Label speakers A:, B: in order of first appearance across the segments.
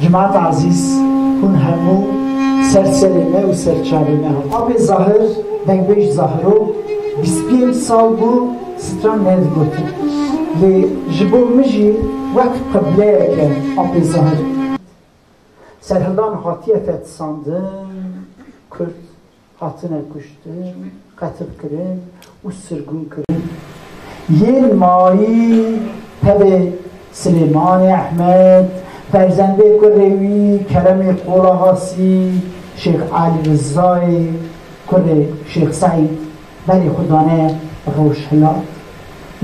A: Cemaat Azîz, hûn hemû ser serê me û ser çavê me hat. Apê Zahir, Dengbêj Zahiro, bîst pênc sal bû stran nedigotin. Lê ji bo min jî wek qibleyek e Apê Zahir. Serhildan hatiye fetisandin, kurd Hatine kuştin, qetilkirin û sirgûnkirin yên mayî tevê Silêmanê Ehmed, ferzendê kurê wî Keremê Qolahasî, Şêx Alî Rizayê kurê Şêx Seîd berê xwe dane rojhilat,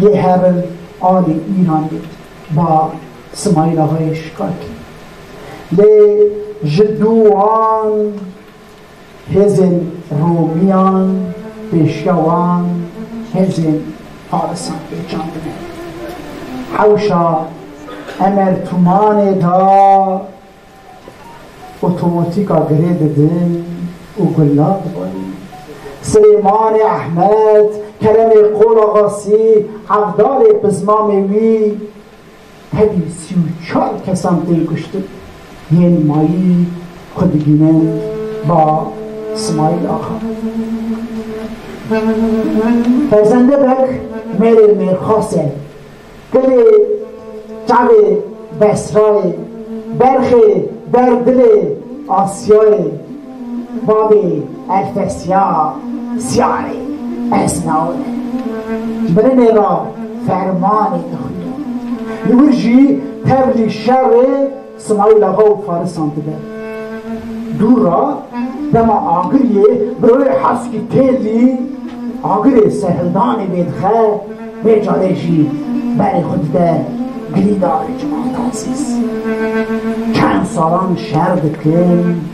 A: yê herin alê Îranê ba Simaîl Axayê Şikakî. Lê ji dû wan. Hêzên Romiyan pêşiya wan hêzên Farisan pê çandine. Hewşa Emer Tumanê de otomatîka girê didin û gulan dibarîn. Silêmanê Ehmed, Keremê Qolaxasî, Evdalê Pizmamê wî, Tevî sî û çar kesan tên kuştin, yên mayî xwe digihînin ba Simayîl Axa. Ferzendebek mêrê mêrxas e, dilê çavê Besrayê, berxê ber dilê Asyayê. Bavê Erfesya Siyarê ez nawe me. Ji mirinê re fermanê dixwîne. Li wir jî tevlî şerê Simayîl Axa û Farisan dibe. Dûr re dema agiriyê miroyê Heskî Têlî agirê serhildanê vêdixe, vê carê jî berê xwe dide girîdarê Cimal Tazîz. Çend salan şer dikin.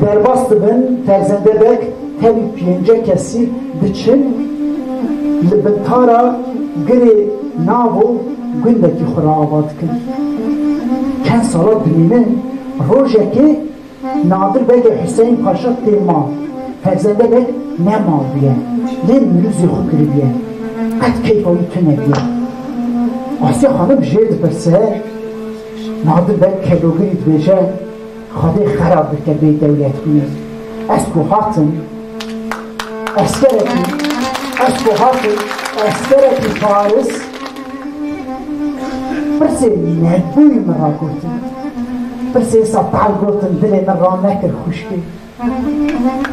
A: Derbas dibin ferzende bek tevî pênce kesî diçin li bintara girê navo gundekî xwe re ava dikin. Çend sala dimînin rojekê Nadir Begê Huseyîn Paşa tê mal. Ferzende bek ne mal bûye lê nûruzê xwe kiribûye. Qet keyfa wî tunebûye. Asya xanim jê dipirse. Nadir Beg Kelogirî dibêje, Xwedê xerab bike bê dewletbûnê, ez ku hatim eskerekî, ez ku hatim eskerekî Paris, pirsê merdbûyî min ra gotin, pirsê Setal gotin dilê min ranekir xwişkê.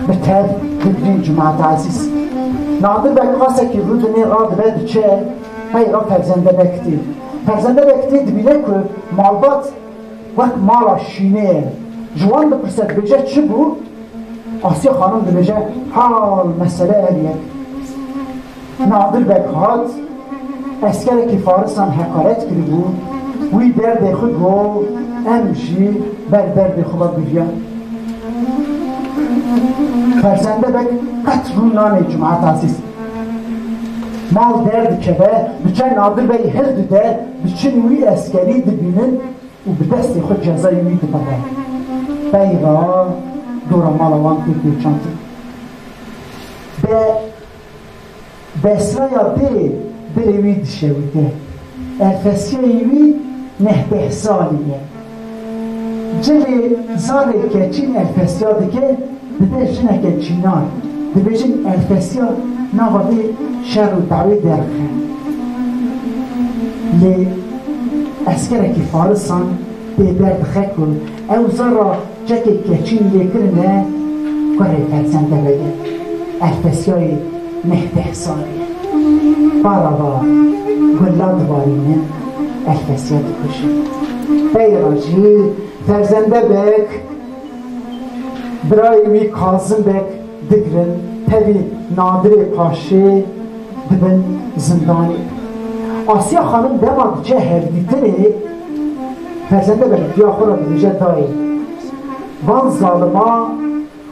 A: Bi tev Gulbîn Cumatazîz nadir be qasekî Rûdinê radibe diçe qeyra ferzende be kitê. Ferzende be kitê dibîne ku malbat wek mala şînê ye. Ji wan dipirse dibêje çi bû? Asîye xanim dibêje hal mesele ev ye. Nadir Beg hat, eskerekî farisan heqaret kiribû, wî derdê xwe got, em jî ber derdê xwe ve giviyan. Ferzende Beg qet rû nanê Cumat Azîz. Mal der dikeve, diçe Nadir Beg hil dide, diçin wî eskerî dibînin û bi destê xwe cezayê wî dibe we. Beyra dora mala wan tê pêçandin. Bi. Desraya bê birê wî dişewite. Erfesiyeyê wî neh deh salî ye. Cilê zarê keçîn erfesiya dike, dide jineke çînan. Dibêjin erfesiya nava vê şer û dawê derixe. Lê eskerekî farisan pê derdixe ku ew zar ra Çekê keçî û lêkirine kurê Ferzende vede. Ev tesyayê neh deh sal e. Para va gulla dibarînin, ev tesya dikujin. Peyra jî Ferzende bek, birayê wî Kazim bek, Digirin tevî Nadirê Paşê dibin zindanê. Asîya Xanim dema diçe hevdîtinê ferzende berikiya xwe re dibêje dayê van zalima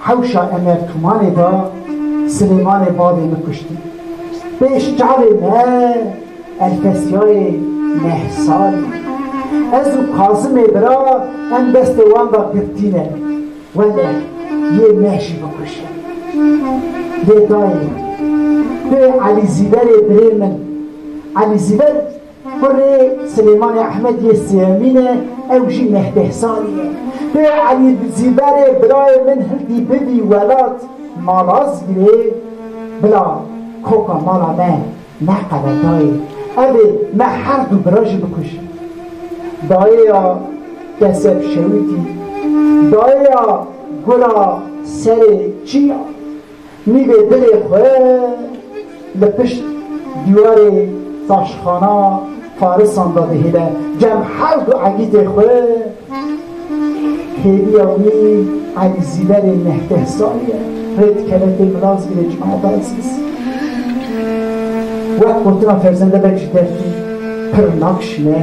A: hewşa Emer Tumanê de Silêmanê bavê min kuştî. Pêş çavê me Elfesiyayê neh salî. Ez û Kazimê bira em destê wan de girtîne. Wele yê me jî bikuşe. Lê dayê tu Elî Zîverê birê min. Elî Zîver kurê Silêmanê Ehmed yê Sêemîn e, ew jî Mehdêhsanî ye. Tu Elî Zîverê birayê min hildî bibî welat ma rast girê, bila koka mala me Me qede dayê evê me her du bira jî bikûj. Dayê ya keseb şewitî, dayê ya gura serê çî ya nîvê dilê xwe li pişt dîwarê taşxana Farisan de dihile gem her du egîtê xwe, hêviya wî Elî Zîverê neh deh salî ye, rê dikeve tê Milazgirê Cumata Ezîz. Wek gotina Ferzende Beg ji dertî pir nakişîne,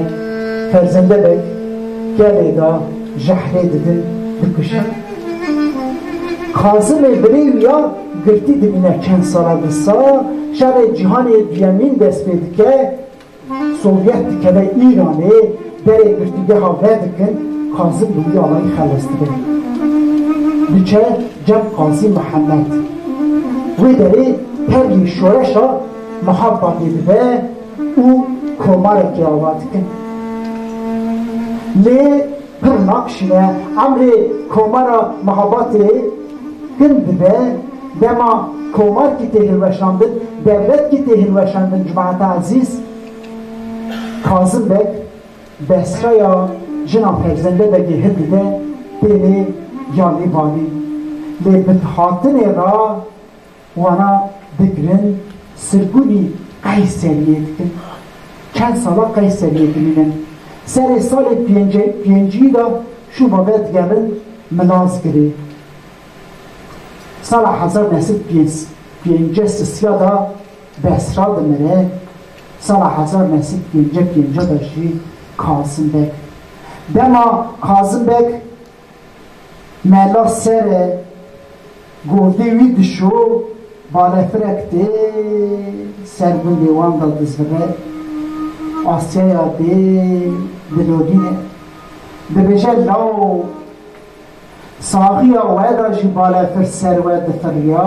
A: Ferzende Beg kevê de jehrê didin, dikujin. Kazimê birê wî ya girtî dimîne çend sala disa, şerê cîhanê duyemîn dest pê dike, Sovyet dikeve Îranê, berê girtîgeha vedikin, Kazim bi wî alayî xeles dibe. Diçe cem Qazî Mihemed. Wê derê tevlî şoreşa Mihabadê dibe û komarekê ava dikin. Lê. pir naqşîne, emrê Komara Mihabatê din dibe, dema komarkî tê hilweşandin, dewletkî tê hilweşandin Cumate Ezîz Kazim Beg desxeya jina Ferzende Begê hil dide têne yanî vanîn lê bi hatine ra Wana digirin sirgûnî Qeyseriyê dikin. Çend sala Qeyseriyê dimînin. Serê salê pêncî de şûma ve digerin Milazgirê. Sala hezar neh sed pêncî sisiya de Besra dimire. Sala hezar neh sed pêncî pêncî de jî Kazim Beg. Dema Kazim Beg Mela sere govdê wî dişo, balefirek dê ser gundê wan de dizvire, Asyaya dê dilodîne. Dibêje lawo. Saxiya we de jî balefir ser we difiriya.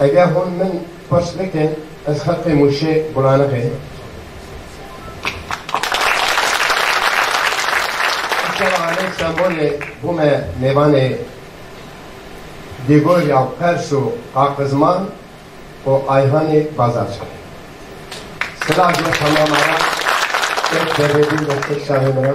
B: Eger hûn min xweş bikin, ez heqê mûşê Bulaniqê Îşewa aleyh sembolê bû me mêvanê Dîgor ya Pers û Qaqizman û Ayhanê Bazarçay. Sila ji bo temamaran, pêk tevebîn be pêk şahê min a.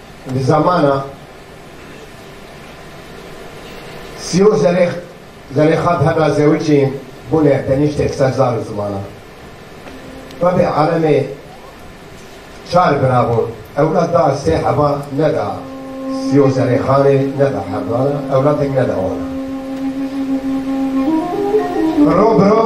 B: Di zamana Siyo Zelêx, Zelêxa bi hevra Zewicî bûne tenîştêk ser zar û zimana. Tabî alemê çar bira bûn. Ewlad da sê heva neda Siyo Zelêxanê, neda hevdana, ewladek neda wan. Biro biro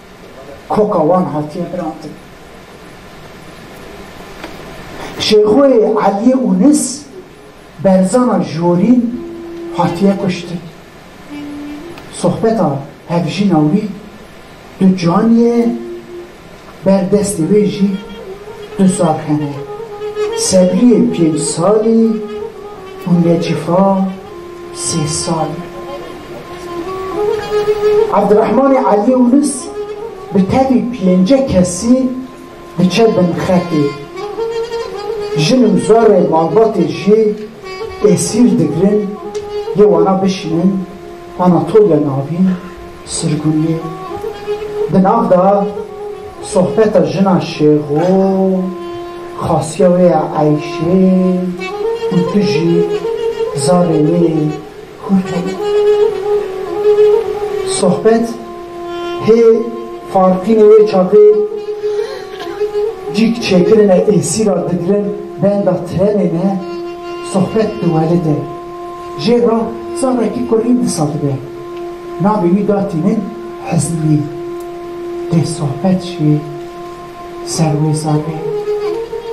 A: Koka wan hatiye birantin. Şêxoyê Eliyê Unis, berzana Jorîn hatiye kuştin. Sohbeta hevjîna wî du caniyê ye, ber destê wê jî du sar hene. Sebriyê pênc salî. Hûn dê çifa sê sal in. Evdirehmanê Eliyê Ulis bi tevî pênce kesî diçe bin xetê. Jin û zorê malbatê jî êsîr digirin yê wana bişînin Anatolya Navîn. Sirgûnê, di nav de sohbeta jina şêxo, xasiya wê ye eyşê û tu jî zarê wê hûrk e. Sohbet hê farqînê wê çapê cîk çêkirine êsî ra digirin benda trenê ne sohbet diwelide. Jê ra zarekî kurîn disa dibe. Navê wî da tînin Hizmî. Dê sohbet jî ser wê zanê.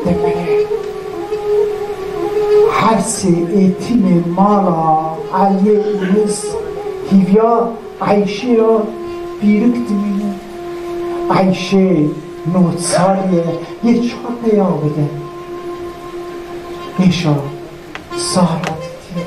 A: Demere her sê êtîmê mala Eliyê Ûnûs hîviya Eyşê ya pîrik dimînin. Eyşê nod salî ye, yê çar peya bide. Êşa sar ra dîtîye.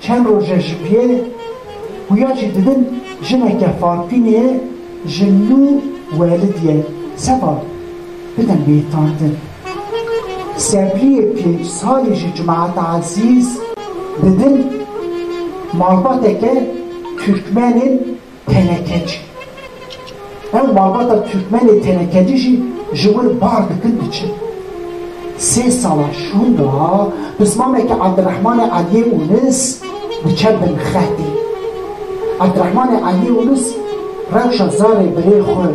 A: Çend roje ji pê xuya jî didin jineke farpînê ji nû welidîye seba bidin bêtandin. Sebrîyê pênc salî ji Cumat Ezîz didin malbateke Turkmenên Tenekeci, Ev malbata Tirkmenê tenekeci jî ji wir bar dikin diçin. Sê sala şûnda pismameke Abdirehmanê Eliyê Unis diçe bin xetê. Abdirehmanê Eliyê Unis rewşa zarê birê xwe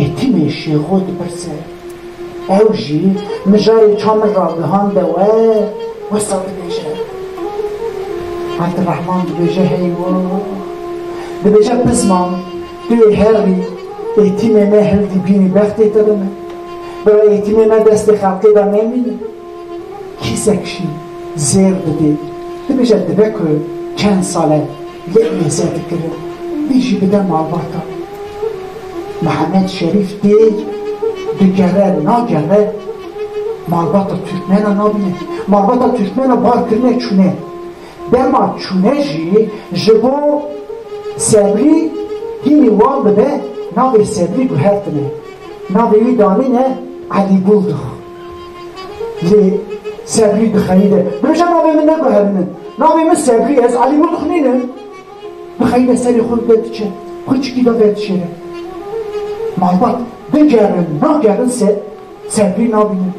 A: Êtimê Şêxo dipirse. Ew jî mijarê çar min ragihande we, wisa dibêje. Abdirehman dibêje hey wo. Dibêje Pizman, tu yê herî, êtîmê me hildî bînî bextê te dime. Bira êtîmê me destê xelkê de nemîne. Kîsek jî zêr didê, dibêje dibe ku çend sal e lê em ê zêr dikirin, vî jî bide malbata. Mihemed Şerîf tê, digere, nagere, malbata Tirkmena nabîne. Malbata Tirkmena bar kirine çûne. Dema çûne jî ji bo Sebrî hînî wan bibe navê Sebrî guhertine. Navê wî danîne Elî Bûldux. Lê Sebrî bi xeyî de, Birêca navê min neguherîne, navê min Sebrî ye, ez Elî Murtux nîne. Bi xeyî de serê xwe bide diçe, xurçikî de ve dişêre. Malbat bigerin nagerin se Sebrî nabînin.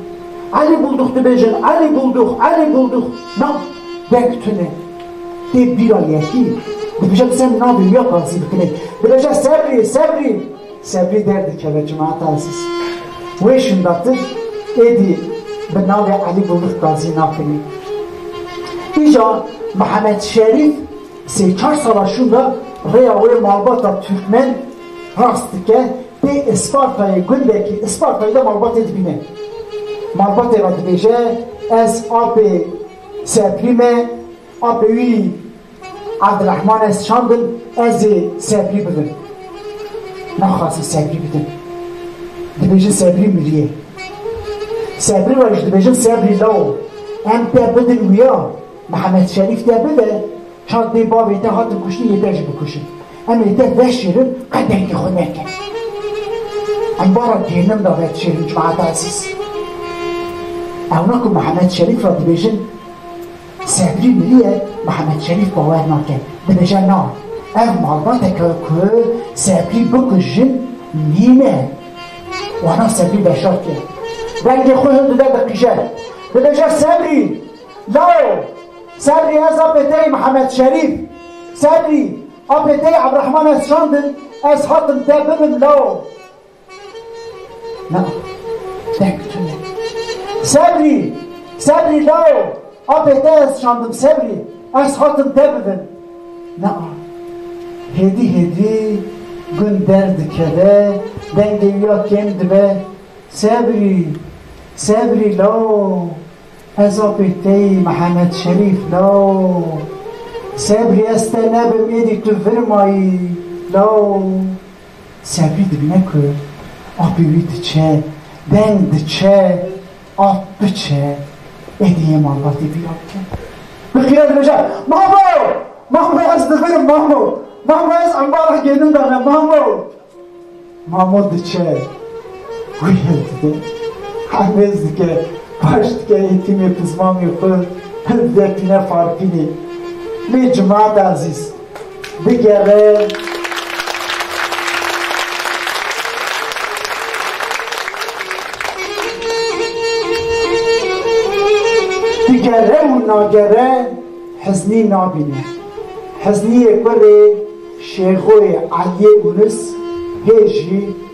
A: Elî Buldux dibêjin, Elî Buldux, Elî Buldux. Na, deng tune. Tê bîra yekî. Dibêje bi se min navê wî ya qazî bikine. Dibêje Sebrî, Sebrî. Sebrî derdikeve Cemaeta Ezîz. Wê şindatir êdî bi navê Elî Bulux Gazî nakinî. Îja Mihemed Şerîf sê çar sala şûnda rêya wê malbata Turkmen rast dike tê Îspartayê gundekî Îspartayê de malbatê dibîne. Malbatê re dibêje ez apê Sebrî me, apê wî. Abdirehman ez çandin ez ê sebrî bibim. Naxwazî sebrî bidim. Dibêjin sebrî miriyê. Sebrî we ji dibêjin sebrî lawo. Em te bidin wiya Mihemed Şerîf te bide çand bê bavê te hatin kuştin yê te jî bikuşin. Em ê te veşêrin qet dengê xwe neke. Em bara gênim da veşêrin cemaata ezîz. Ewna ku Mihemed Şerîf ra dibêjin Sedrî Mirîye Mihemed Şerîf bawer nake, dibêje na, ev malbateke ku Sedrî bikujin nîne. Wana Sedrî Beşar kir. Dengê xwe hin dide diqîje. Dibêje Sedrî! Lawo! Sedrî ez apê te yî Mihemed Şerîf! Sedrî! Apê te yî Ebdirehman ez şandin, ez hatim te bibin lawo! Na, tek tune. Sebrî, sebrî lawo, apê te ez şandim sebrî, ez hatim te bibin. Na, hêdî hêdî gun der dikeve, dengê wî ya kêm dibe. Sebrî, sebrî lawo, ez apê te yî Mihemed Şerîf lawo. Sebrî ez te nebim êdî tu vir ma yî lawo. Servî dibîne ku apê wî diçe, deng diçe, ap biçe, êdî yê malbatê bîra bike. Bi qîret dibêje, Mamo! Mamo ez dibirim mamo! Mamo ez embala gênim de me mamo! Mamo diçe, wî hil dide, hemêz dike, baş dike ê tîmê pizmamê xwe, hil dide tîne farpînê. Lê cimat ezîz! bigerin. Digere û nagere heznî nabîne. Hezniyê kurê Şêxoyê Eliyê Unus hê jî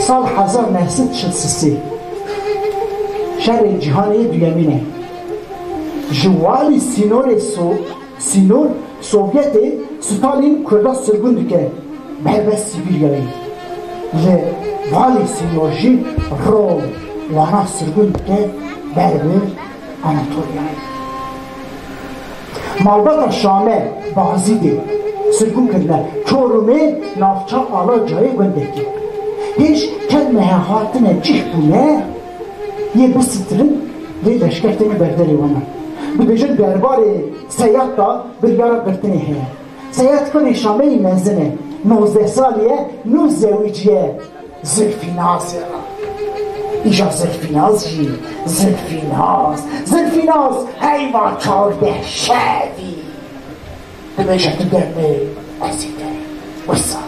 A: Sal hezar neh sed şil sisê Şerê Cîhanê Duyemîn e. Ji walî sînorê sînor Sovyetê Stalîn Kurda sirgûn dike bi helbest Sîbîryayê. Li walî sînor jî rol wana sirgûn dike ber bi Anatoliayê. Malbata Şame, Bazidê, sirgûn kirine Çorumê navça Alacayê gundekî. Hêj kelmehe hatine cih bûne yê bisitirn lê leşker tenê berderê wan e. Dibêjin derbarê Seyad da biryara girtinê heye. Seyad kurê Şameyî mezin e, nozdeh salî ye, nû zewîc ye. Zilfînazê re. Îja Zilfînaz jî Zilfînaz, Zilfînaz heyva çardeh şeh bî. Dibêje tu demê ez ê derê. Wisa.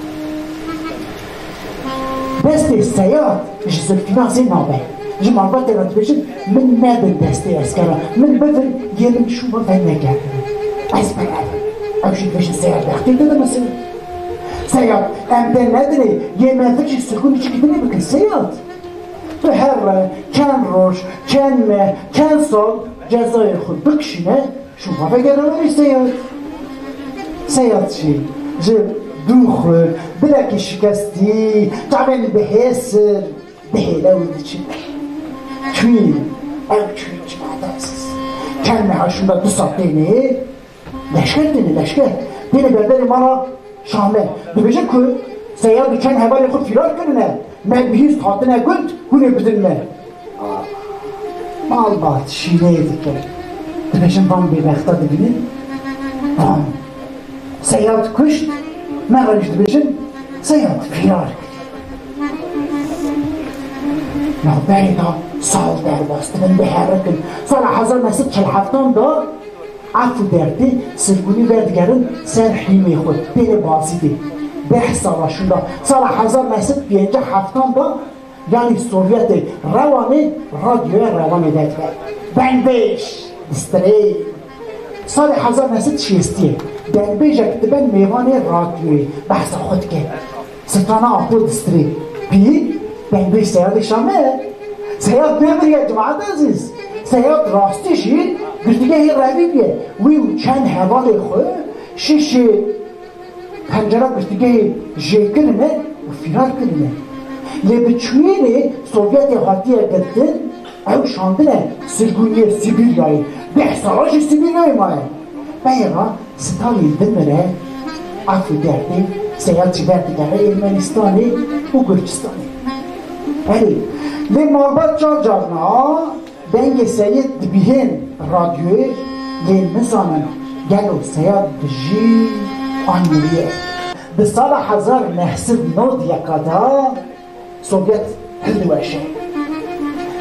A: Destê Seyad ji Zilfînazê nabe. Ji malbatê re dibêjin min nedin destê eskera. Min bivin yê min şûma venegerdin. Ez berevim. Ew jî dibêjin Seyad rextê dide min sê. Seyad, em pê nedinê yê me vicî sirgûnê çi kidinê bikin Seyad. Tu her re çend roj, çend meh, çend sal cezayê xwe bikişîne şû xwe vegere werî Seyad. Seyad jî ji dû xwe bilekî şikestî çavên bi hêsir bi hêle wî diçin. Çûyî, ew çûyî çima dest? Çend meha şûnda du sal têne yê. Leşker têne leşker. Têne berberê mala Şahme. Dibêje ku Seyad û çend hevalên xwe fîrar kirine, me bi hîst hatine gund, hûn ê bidin me. Malbat şîneyê dike. Dibêjin van bêbexta dibînin? Van. Seyad kuşt, me re jî dibêjin Seyad fîrar kir. Navberê de sal derbas dibin biherikin. Sala hezar neh sed çil heftan de. Ev ku dertê sirgûnî werdigerin ser hîmê xwe têne bazîdê. Deh sala şûnda, sala hezar neh sed pênceh heftan de yanî Sovyetê Rewanê radyoya Rewanê vedibert. Dengbêj bi streyê. Salê hezar neh sed şêstiyê dengbêjek dibe mêvanê radyoyê behsa xwe dike. Sirtana Apo Distrê Pî Pembeyê Seyadê Şamê ye. Seyad Demir ye Cemaat Ezîz. Seyad rastî jî girtîgehê Revîb ye. Wî û çend hevalê xwe şîşê pencera girtîgehê jêkirine û fîrar kirine. Lê bi çûyînê Sovyetê hatiye girtin, ew şandine Sirgûniyê Sîbîryayê. Deh sala jî Sîbîryayê maye. Beyê re Stalîn dimire, Afê Derdê seya ji ber digere Ermenistanê û Gurcistanê. Erê, lê malbat car car na dengê Seyid dibîhên radyoyê lê nizanin gelo seya dijî an miriye. Di sala hezar neh sed nod yeka de Sovyet hindiweşê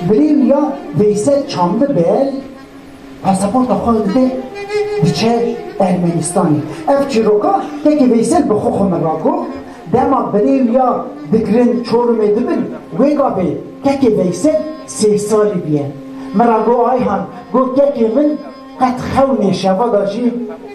A: birî û ya Veysel Çamlibel, Pasaporta xwe dide diçe Ermenistanê. Ev çîroka teke Veysel bi xwe xwe min ra got, dema birê wî ya dikirin Çorumê dibin, wêga bê teke Veysel sê salî bîye. Min ra got Ayhan, got teke min qet xewnê şeva da jî.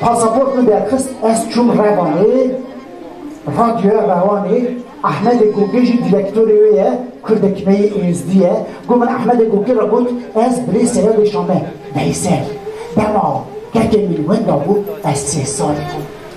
A: pasaport min derxist ez çûm Revanê, radyoya Rewanê Ehmedê Gokê jî direktorê wê ye Kurdekmeyî Êzdî ye. Got min Ehmedê Gokê re got ez birê Seyedê Şame Veysel dema kekê min wenda bû ez sê salî bûm.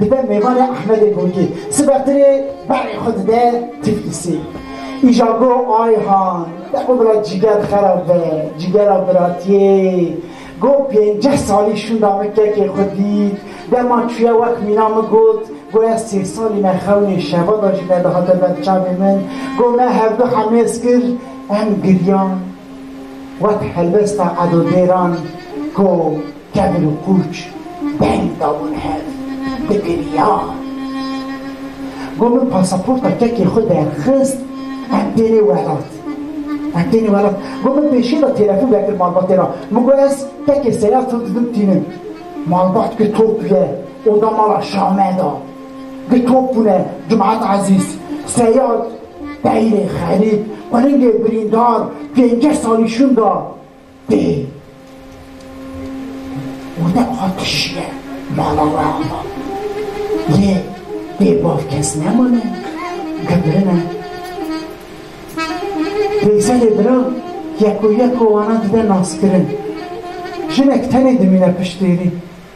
A: Dide mêvanê Ehmedê Gurgî sibe tirê berê xwe dide Tiflisî. Îja go Ayhan debo bila cîger xerab be, cîgera biratiyê. Go pênceh salî şûnda min kekê xwe dît. Dema çûye wek mîna min got, Go ez sê salî me xewnê şevada jî nedihate ber çavê min. Go me hevdu hemêz kir, em giriyan. Wek helbesta edodêran go Tevr û pûç beng dabûn hev, digiriyan. Got min pasaporta kekê xwe derxist, em tênê welat. Em tênê welat. Got min pêşiyê de têlefon vekir malbatê re. Min got ez tekê seya fil didim tînin. Malbat got to bûye oda mala Şame de. Got to bûne Cumat Ezîz, Seyad, Beyrê, Xerîb, Qulingê birîndar, pênceh salî şûnda. Tê û ne aqişiye mala Rahma. Yê bê bav kes nemane, gibirine. Veyselê bira yeko yeko wana dide naskirin. Jinek tenê dimîne piştêrî.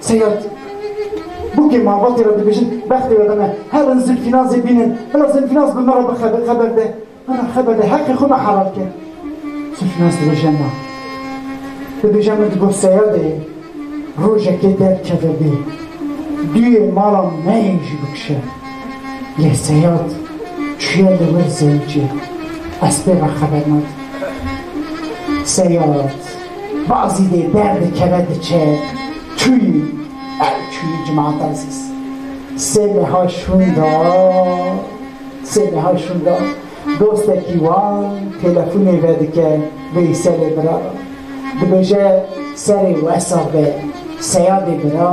A: Seyed, bûkê malbatê re dibêjin, bextê we bime, her in Zilfînazê bînin, bila Zilfînaz bi min re bi xeber de, min re xeber de, heqê xwe me helal ke. Zilfînaz dibêje na. Dibêje min digot Seyedê, rojekê derkeve bê, duyê mala me yê jî bikişe. Lê Seyed çûye li wir zeycê, ez pê re xeber nadim. Seyed. Bazî dê derdikeve diçe çûyî ew çûyî Cumant Ezîz sê meha şûn da sê meha şûn da dostekî wan telefonê vedike Veyselê bira dibêje serê wesabê seyadê bira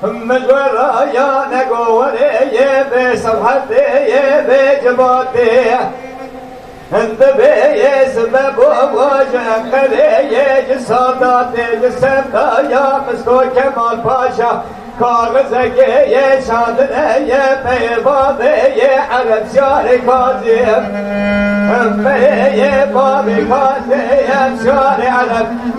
C: Him min vera ya ne gowerê yê bê sewhetê yê bê civatê Him di bê yê sibe bo wa ji Enqerê yê ji Sadatê ji semta ya Misko Kemal Paşa kaxizekê yê şandine yê peyê bavê yê Erebşarê Kazî Him peyê yê bavê Kazê Erebşarê Ereb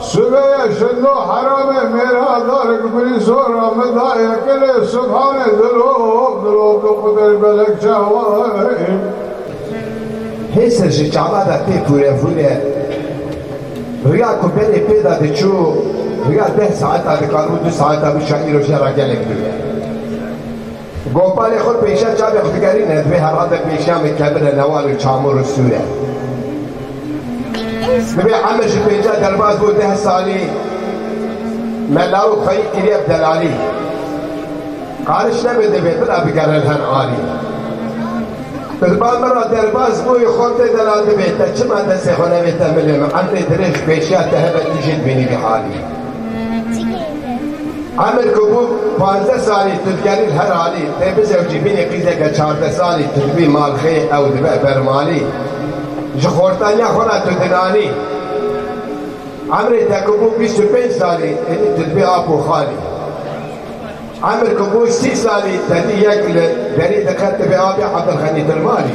B: Sibeye şendo herame mêra dar ku birî zor a min da yekilê subhanê dilop dilop do qudey belek çawayê. Hêse ji çava de pê pûre vûre. Riya ku berê pê de diçû riya deh saeta dikar û du saeta bû şa îro jê ra gelek dûr e. Gopalê xwe pêşiya çavê xwe digerîne, divê her rade pêşiya min kevine newalên çamûr û sûre. Divê Emir ji pênca derbas bû deh salî me lawik xweyî kiriye bi delalî. Qariş nebe divê bila bigere li her alî. Tu li ba min re derbas bûyî xwe tê de la divê te çima destê xwe nevê te milê min. Emrê dirêj pêşiya te hebe tu jî dibînî vî halî. Ahmet Gobû pazdeh salî tu digerî li her halî tê bizewicî bînî qîzeke çardeh salî tu dibî malxê ew dibe bermalî ji xortaniya xwe re tu dinanî emrê te ku bû bîst û pênc salî êdî tu dibî ap û xalî emr ku bû sî salî te dî yek li derî diqet dibê abî Abdulxenî Dilmalî